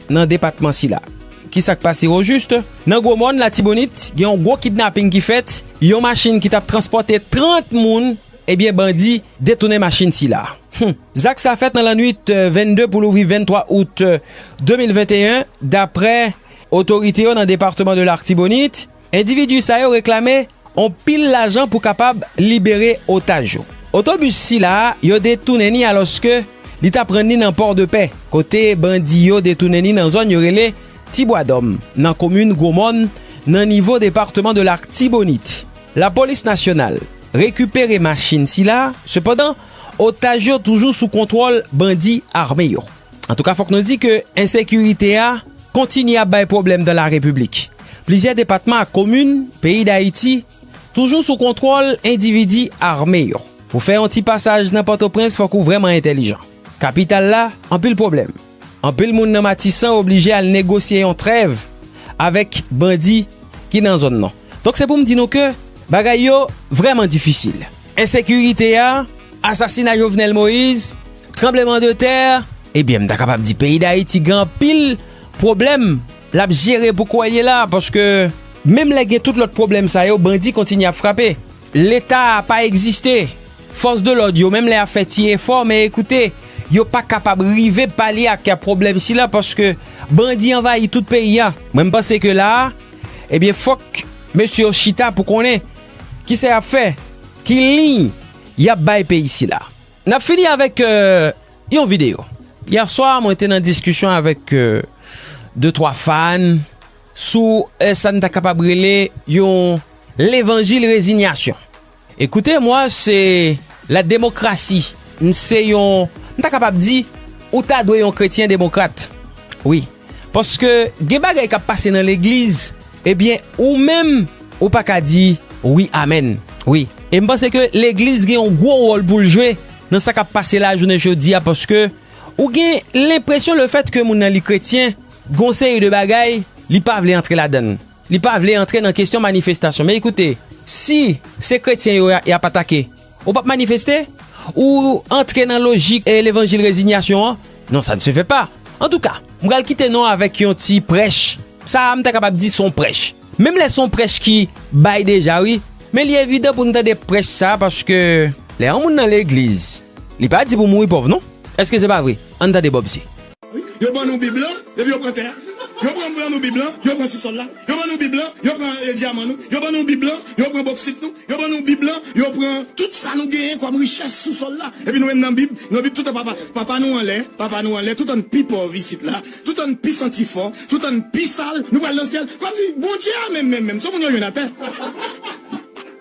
nan depatman sila. Kisa k pase ojust? Nan Gwo Mòn, Latibonit, gen yon gwo kidnaping ki fèt, yon machin ki t ap transpòte 30 moun, ebyen bandi detounen machin sila. Hum! Zak sa fèt nan lannuit 22 pou louvri 23 out 2021, daprè otorite yo nan depatman de Lartibonit. Endividi sa yo reklame on pil lajan pou kapab libere otaj yo. Otobis sila yo detounen ni alòske li t ap rann ni nan Pòdepè, kote bandi yo detounen ni nan zòn yo rele Ti Bwa Dòm, nan komin Gwo Mòn, nan nivo departeman de Larktibonit. Lapolis nasyonal rekipere machin sila, sepandan, otaj yo toujou sou kontwòl bandi ame yo. Antouka fòk nou di ke ensekirite a kontinye ap bay pwoblèm dan la repiblik. Plizyè depatman ak komin peyi Dayiti toujou sou kontwòl endividi ame yo. Pou fè yon ti pasaj nan Pòtoprens fòk ou vrèman entèlijan. Kapital la anpil pwoblèm. Anpil moun nan Matisan oblije al negosye yon trèv avèk bandi ki nan zòn nan. Donk se pou m di nou ke bagay yo vrèman difisil. Ensekirite a, asasina Jovenel Moïse, tranbleman de tè, ebyen m ta kapab di peyi Dayiti gen anpil pwoblèm l ap jere pou kouwè l ye la a paske menm lè gen tout lòt pwoblèm sa yo bandi kontinye ap frape. Leta a pa egziste, fòs de lòd yo menm lè y ap fè ti efò men ekoute yo pa kapab rive palye ak pwoblèm sila paske bandi anvayi tout peyi a. Mwen m panse ke la a Ebyen fòk mesye yo chita pou konnen ki sa y ap fè, ki liy y ap bay peyi sila. N ap fini avèk yon videyo. Yèswa mwen te nan diskisyon avèk de twa fàn sou sa n ta kapab rele yon levanjil rezinyasyon. Écoutez moi se la demokrasi m se yon m ta kapab di ou ta dwe yon kretyen demokrat wi paske gen bagay kap pase nan legliz ebyen ou menm ou pa ka di wi amèn wi e m panse ke legliz gen yon gwo wòl pou l jwe nan sa kap pase la jounen jodi a paske ou gen lenpresyon le fèt ke moun nan li kretyen gon seri de bagay li pa vle antre ladann. Li pa vle antre nan kesyon manifestasyon. Men ekoute, si se kretyen yo y ap atake, ou p ap manifeste? Ou antre nan lojik levanjil rezinyasyon an? Non, sa ne se fè pa. Antouka, m pral kite nou avèk yon ti prèch, sa a m ta kapab di se yon prèch. Menm lè se yon prèch ki bay deja wi, men li evidan pou n tande prèch sa a paske lè yon moun nan legliz, li pa di pou mouri pòv non. Èske se pa vre? Ann tande Bob C. Yo ban nou Bib lan, epi yo pran tè a. Yo pran ban nou Bib lan, yo pran sousòl la. Yo ban nou Bib lan, yo pran dyaman nou. Yo ban nou Bib lan, yo pran boksit nou. Yo ban nou Bib lan, yo pran tout sa nou genyen kòm richès sou sòl la. Epi nou menm nan Bib, nan Bib toutan papa, papa nou anlè, papa nou anlè, toutan n pi pòv isit la, toutan n pi santi fò, toutan n pi sal, nou pral nan syèl. Kòmsi Bondye a menm menm menm, son moun yo jwenn atè.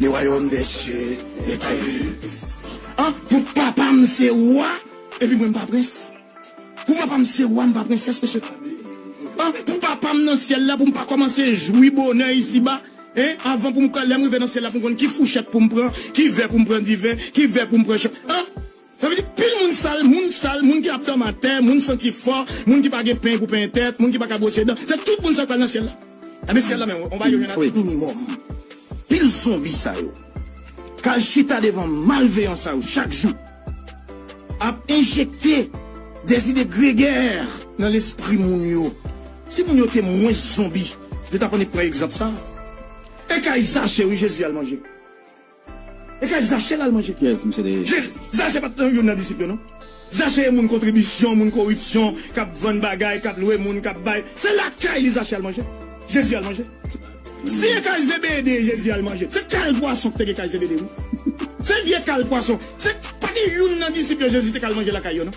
Le wayòm dè sye e taye an pou papa m se wa epi mwen m pa prens pou papa m se wa m pa prensès mesye an pou papa m nan syèl la pou m pa kòmanse jwi bonè isiba e avan pou m ka lè m rive nan syèl la pou m konn ki fouchèt pou m pran ki vè pou m pran diven ki vè pou m pran chan an. Sa vle di pil moun sal, moun sal, moun ki ap dòmi atè, moun santi fò, moun ki pa gen peny pou penyen tèt, moun ki pa ka bwose dan, se tout moun sa yo k pral nan syèl la. Ebyen syèl la menm on va yo jwenn avèk. Minimòm pil zonbi sa yo k al chita devan malveyan sa yo chak jou ap enjekte de zide gregè nan lespri moun yo. Si moun yo te mwens zonbi yo t ap annik pran egzanp sa. E kay Zache wi Jezi al manje. E kay zache lal manje pyès misye te ye. Zache pat nan youn nan disip yo non zache e moun kontribisyon moun koripsyon kap vann bagay kap lwe moun kap bay se lakay li zache al manje jezi al manje si e kay zebede jezi al manje se kal pwason ki te gen kay zebede wi se vye kal pwason se pa gen youn nan disip yo jezi te kal manje lakay yo non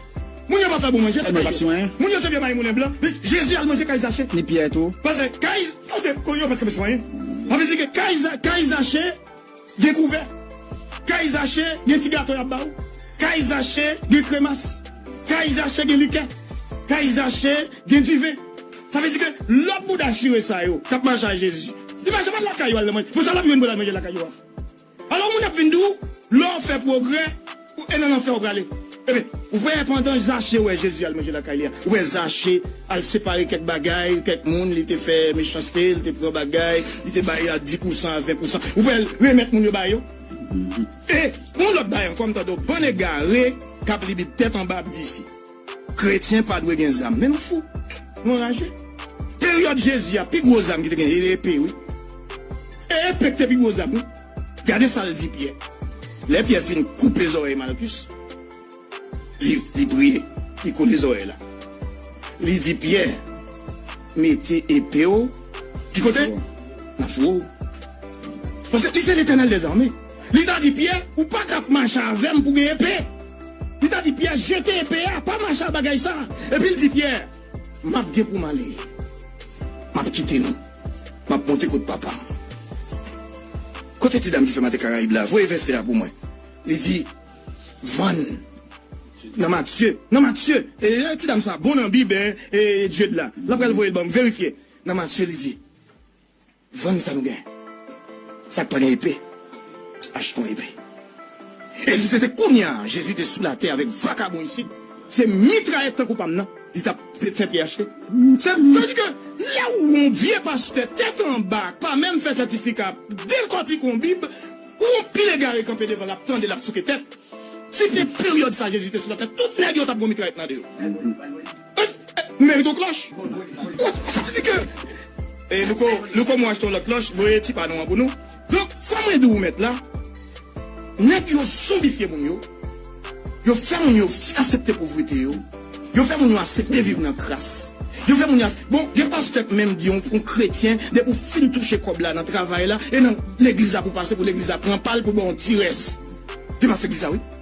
moun yo pa fè bon manje lakay yo moun yo se vye maymoulen blan jezi al manje kay zache ni pyè tou pase kay kote yo pat konn swen anvi di ke kay zache. Gen kouvè. Kay Zache gen ti gato y ap ba ou. Kay Zache gen kremas. Kay Zache gen likè. Kay Zache gen diven. Sa vle di ke lòt bouda chire sa yo k ap mache a Jezi, li pa janm al lakay yo al nan manje. Bon, sa l ap jwenn pou l al manje lakay yo a? Alò, moun ap vin di ou, lè w fè pwogrè, Ou e nan lanfè ou prale. Ebyen, ou wè pandan Zache wè Jezi al manje lakay li a, ou wè Zache al separe kèk bagay, kèk moun li te fè mechanste, li te pran bagay, li te bay a di pousan, a ven pousan, ou wè l remèt moun yo ba yo. E yon lòt bagay ankò, m tande yon bann egare k ap li Bib tèt anba ap di si. Kretyen pa dwe gen zam menm fou nou anraje peryòd Jezi a pi gwo zam ki te gen e epe wi e epe ki te pi gwo zam wi gade sal di Pyè lè Pyè fin koupe zòrèy Malkus li li priye li kole zòrèy la li di Pyè mete epe w ki kote nan fouwo paske li se letènèl dezame. Li ta di Pyè, Ou pa ka ap mache avè m pou gen epe. Li ta di Pyè, Jete epe a, pa mache ak bagay sa a. Epi l di Pyè, M ap gen pou m ale. M ap kite nou. M ap monte kot papa m. Kote ti dam ki fè mate Karayib la? Voye vèsè a pou mwen. Li di, Vann nan Matye. Nan Matye. E ti dam sa bon nan Bib, hein? E Dieud la? L ap pral voye l ban m. Verifye. Nan Matye, li di. Vann sa nou gen. Sak pa gen epe achte yon epe. E si se te kounya Jezi te sou latè avèk vakabon isit, se mitrayèt tankou pam nan li tap fè vye achte. Sa vle di ke lè ou yon vye pastè tèt anba k pa menm fè sètifika ap dekòtik yon bib, ou yon pil egare kanpe devan l ap tande l ap souke tèt. Si se peryòd sa Jezi te sou latè tout nèg yo tap gon mitrayèt nan de yo. Mérite yon klòch Sa vle di ke E louko Louko mwen achte yon lòt klòch Voye ti pa nou an pou nou Donk sa mwen di ou mèt la Nèg yo zonbifye moun yo Yo fè moun yo asepte povrete yo Yo fè moun yo asepte viv nan kras Yo fè moun yo asepte Bon gen pastè k menm di yon kretyen Depi w fin touche kòb la nan travay la E nan legliz la pou w pase pou legliz la pran pa l pou l ba w yon ti rès Gen pastè k di sa wi.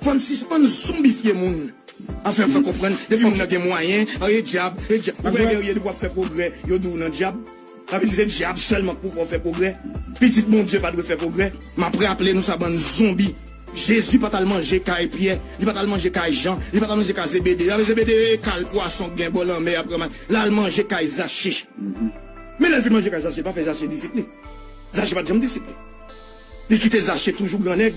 Fò'n sispann zonbifye moun. Anfen fè konprann depi moun nan gen mwayen an e dyab e dyab ou wè Guerrier depi wap fè pwogrè yo di'w nan dyab sa vle di se dyab sèlman k pou fè w fè pwogrè pitit Bondye pa dwe fè pwogrè. Map raple nou sa bann zonbi Jezi pat al manje kay Pyè li pat al manje kay Jan li pat al manje kay Zebede sa vle Zebede e kal pwason k gen bò lanmè a pran lal manje kay Zache men lèl fin manje kay Zache li pa fè Zache disip li Zache pat janm disip li li kite Zache toujou gran nèg.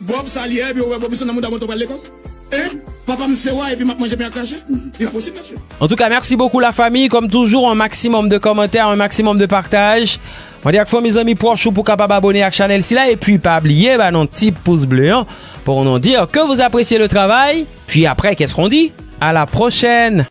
Bob sa li ye epi ou wè bob li son nan mouda bon to pral lekol hein papam se wa epi map manje pen ak krache inposib mesye. Antouka merci beaucoup la famille kom toujou un maximum de commentaires un maximum de partage mande ak fanmi zanmi proch ou pou kapab abone ak chanel sila epi pa bliye ba nou ti pouce bleu an pou nou dire que vous appreciez le travail puis après qu'est ce qu'on dit à la prochaine.